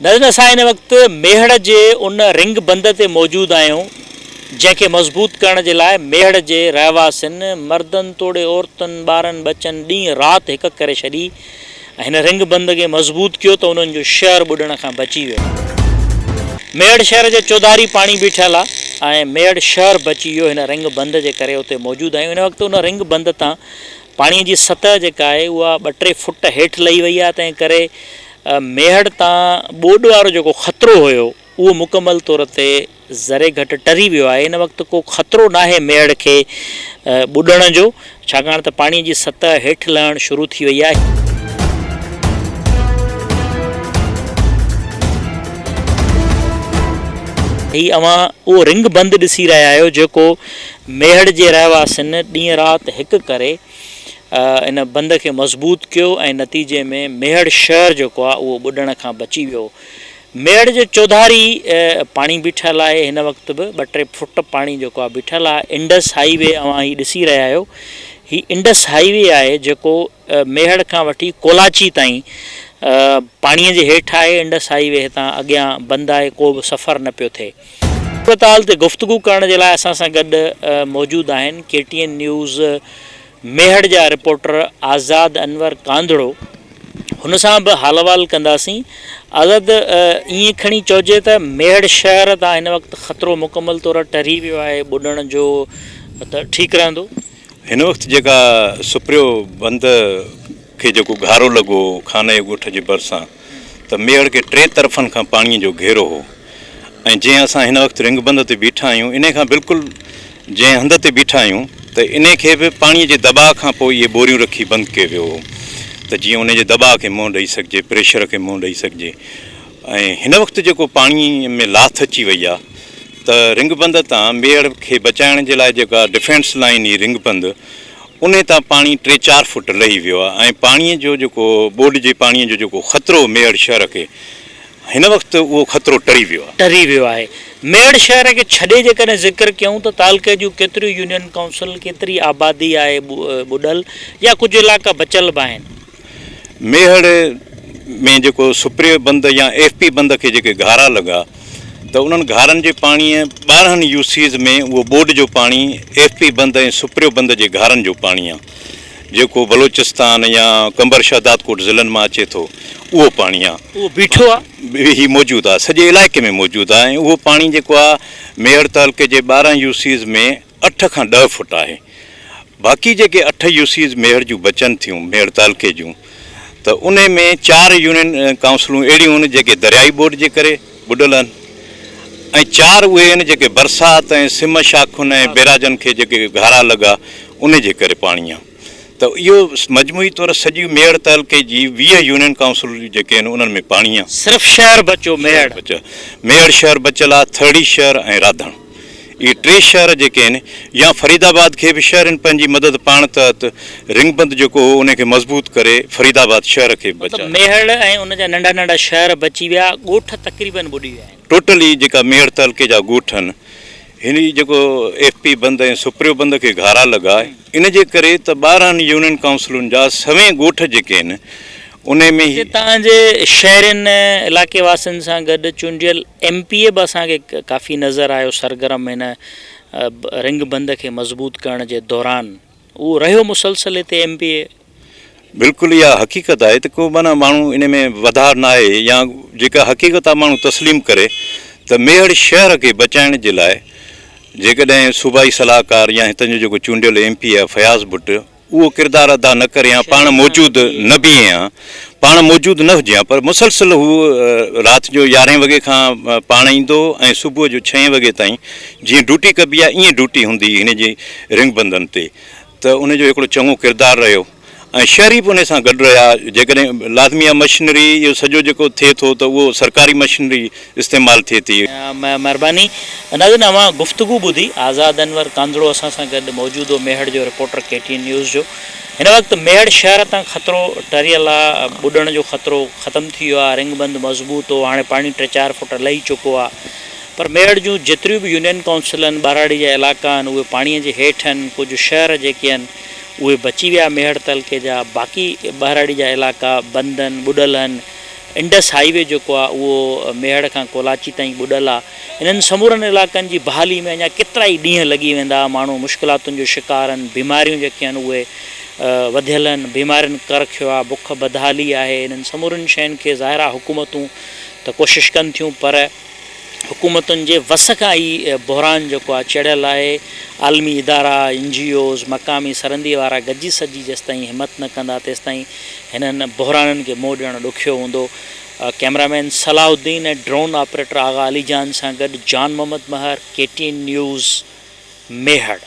نظرين اسان هن وقت ميهڙ جي ان رنگ بند تي موجود آهيون جنهن کي مضبوط ڪرڻ جي لاء ميهڙ جي رهواسين مردن توڙي عورتن ٻارن ٻچن ڏينهن رات هڪ ڪري ڇڏي ۽ هن رنگ بند کي مضبوط ڪيو ته انهن جو شهر ٻڏڻ کان بچي ويو ميهڙ شهر جي چوڌاري پاڻي به ٺهيل آهي ۽ ميهڙ شهر بچي ويو هن رنگ بند جي ڪري اتي موجود آهيون هن وقت ان رنگ بند تان پاڻي جي سطح جيڪا آهي اها ٻه ٽي فوٽ هيٺ لهي وئي آهي تنهن ڪري ميهڙ تان ٻوڏ وارو جيڪو خطرو هيو اهو مڪمل طور تي ذري گهٽ ٽري ويو آهي ان وقت ڪو خطرو ناهي ميهڙ کي ٻڏڻ جو ڇاڪاڻ ته پاڻي جي سطح هيٺ لهڻ شروع ٿي وئي آهي. هي اوهان اهو رنگ بند ڏسي رهيا آهيو جيڪو ميهڙ جي رهواسين ڏينهن رات هڪ ڪري ان بند کي مضبوط ڪيو ۽ نتيجي ۾ ميهڙ شهر جيڪو آهي اهو ٻڏڻ کان بچي ويو. ميهڙ جي چوڌاري پاڻي بيٺل آهي هن وقت به ٻه ٽي فوٽ پاڻي جيڪو آهي بيٺل آهي انڊس هائي وي اوهان هي ڏسي رهيا آهيو هي انڊس هائي وي آهي جيڪو ميهڙ کان وٺي ڪولاچي تائين پاڻي جي هيٺ آهي انڊس هائي وي هتان اڳيان بند آهي ڪو به سفر نه پيو ٿئي. صورتحال تي گفتگو ڪرڻ جي لاء اسان سان گڏ موجود آهن K T N news Mehar جا رپورٽر آزاد انور ڪانڌڙو هن سان به حال احوال ڪنداسين آزاد ائين کڻي چئجي ته ميهڙ شهر تان هن وقت خطرو مڪمل طور ٽري ويو آهي ٻڏڻ جو ته ٺيڪ رهندو؟ هن وقت جيڪا سپريو بند کي جيڪو گهارو لڳو هو خانه ڳوٺ جي ڀرسان ته ميهڙ کي ٽي طرفن کان پاڻيء جو گهيرو هو ۽ جنهن اسان هن وقت رنگ بند تي بيٺا آهيون انهي کان بلڪل جنهن هنڌ تي بيٺا آهيون ته انهي کي به پاڻيء جي دٻاء کان پوء اهي ٻوريون رکي بند ڪيو ويو هو ته جيئن انهي جي دٻاء کي منهن ڏئي سگهجي پريشر کي منهن ڏئي سگهجي ۽ هن وقت جيڪو پاڻيء ۾ لاٿ اچي وئي آهي ته رنگ بند تان ميهڙ کي بچائڻ جي لاء جيڪا ڊفينس لائين هي رنگ بند انهي تان پاڻي ٽي چار فوٽ لهي ويو آهي ۽ پاڻي جو جيڪو ٻوڏ جي پاڻي جو جيڪو خطرو ميهڙ شهر کي هن وقت اهو خطرو ٽري ويو آهي. ٽري ويو آهي. ميهڙ شهر کي ڇڏي جيڪڏهن ذڪر ڪيون ته تعلقي جون ڪيتريون يونين ڪائونسل ڪيتري آبادي آهي ٻڏل يا ڪجهه علائقا بچيل به آهن. ميهڙ ۾ جيڪو سپريو بند يا ايف پي بند کي جيڪي گهارا لڳا ته انهن گهارن جي پاڻيء ٻارهن يو سيز ۾ اهو ٻوڏ جو پاڻي ايف پي بند ۽ سپريو بند جي گهارن جو پاڻي آ جيڪو بلوچستان يا قمبر شهدادڪوٽ ضلعن مان اچي ٿو اهو پاڻي آ اهو بيٺو آ هي موجود آ سڄي علائقي ۾ موجود آ ۽ اهو پاڻي جيڪو آ ميهڙ تعلقي جي ٻارهن يو سيز ۾ اٺ کان ڏهه فوٽ آهي. باقي جيڪي اٺ يو سيز ميهڙ جون بچن ٿيون، ميهڙ تعلقي جون، ته انهي ۾ چار يونين ڪائونسلون اهڙيون هن جيڪي دريائي ٻوڏ جي ڪري ٻڏل هن ۽ چار اهي هن جيڪي برسات ۽ سم شاخن ۽ بيراجن کي جيڪي گهارا لڳا انهي جي ڪري پاڻي آيو ته اهو مجموعي طور سڄي ميهڙ تعلقي جي ويهه يونين ڪائونسل جيڪي هن انهن ۾ پاڻي آ. صرف شهر بچيو ميهڙ. ميهڙ شهر بچيل آ، ٿرڙي شهر ۽ راڌڻ. اهي ٽي شهر جيڪي آهن يا فريد آباد کي به شهر ان پنهنجي مدد پاڻ تحت رنگ بند جيڪو هو ان کي مضبوط ڪري فريد آباد شهر کي به بچايو. ميهڙ ۽ ان جا ننڍا ننڍا شهر بچي ويا ڳوٺ تقريبن ٻڏي ويا آهن. ٽوٽلي جيڪا ميهڙ تعلقي جا ڳوٺ آهن هن جي جيڪو ايف پي بند ۽ سپريو بند کي گهارا لڳا ان جي ڪري ته ٻارهن يونين ڪائونسلن جا سوين ڳوٺ جيڪي آهن انهي ۾ هي. هتان جي شهرين ۽ علائقي واسين سان گڏ چونڊيل ايم پي اي به اسان کي ڪافي نظر آيو سرگرم هن رنگ بند کي مضبوط ڪرڻ جي دوران اهو رهيو مسلسل هتي ايم پي اي. بلڪل اها حقيقت آهي ته ڪو معنيٰ ماڻهو انهي ۾ وڌاء نه آهي يا جيڪا حقيقت آهي ماڻهو تسليم ڪري ته ميهڙ شهر کي بچائڻ جي لاء جيڪڏهن صوبائي صلاحڪار يا هتان جو جيڪو چونڊيل ايم پي اي آهي فياض ڀٽ اهو ڪردار ادا نه ڪرين ها پاڻ موجود نه بيهين ها پاڻ موجود نه هجين ها پر مسلسل هو رات جو يارهين وڳي کان پاڻ ايندو ۽ صبح جو ڇهين وڳي تائين جيئن ڊوٽي ڪبي آهي ائين ڊوٽي هوندي هن جي رنگ بندن تي ته ان جو هڪڙو چڱو ڪردار رهيو ۽ شهري به ان سان گڏ رهيا جيڪڏهن لازمي آهي مشنري اهو سڄو جيڪو ٿئي ٿو ته اهو سرڪاري مشنري استعمال ٿئي ٿي. مھرباني ناظرين اوھان گفتگو ٻڌي آزاد انور ڪانڌڙو اسان سان گڏ موجود ھو ميھڙ جو reporter K T N news جو ھن وقت ميھڙ شھر تان خطرو ٽريل آ ٻڏڻ جو خطرو ختم ٿي ويو آ رنگ بند مضبوط ھو ھاڻي پاڻي ٽي چار فوٽ لھي چڪو آ پر ميھڙ جون جيتريون به يونين ڪائونسل آھن ٻھراڙي جا علائقا آھن اھي پاڻي جي ھيٺ آھن ڪجھ شھر جيڪي آھن اھي بچي ويا ميھڙ تعلقي جا باقي ٻھراڙي جا علائقا بند آھن ٻڏل آھن انڊس هاء وي جيڪو آهي اهو ميهڙ کان ڪولاچي تائين ٻڏل آهي، انهن سمورن علائقن جي بحالي ۾ اڃا ڪيترائي ڏينهن لڳي ويندا، ماڻهو مشڪلاتن جو شڪار آهن، بيماريون جيڪي آهن اهي وڌيل آهن، بيمارين ڪر کيو آهي، بک بدحالي آهي، انهن سمورين شين کي ظاهر آهي حڪومتون ته ڪوشش ڪن ٿيون پر. حڪومتن جي وس کان هي بحران جيڪو آهي چڙهيل آهي، عالمي ادارا، اين جي اوز، مقامي سرندي وارا گڏجي سڏجي جيستائين همت نه ڪندا تيستائين هنن بحرانن کي منهن ڏيڻ ڏکيو هوندو. Camera man Salahuddin ۽ drone operator Agha Ali Jan سان گڏ Jan Muhammad Mehar, K T N news, Mehar.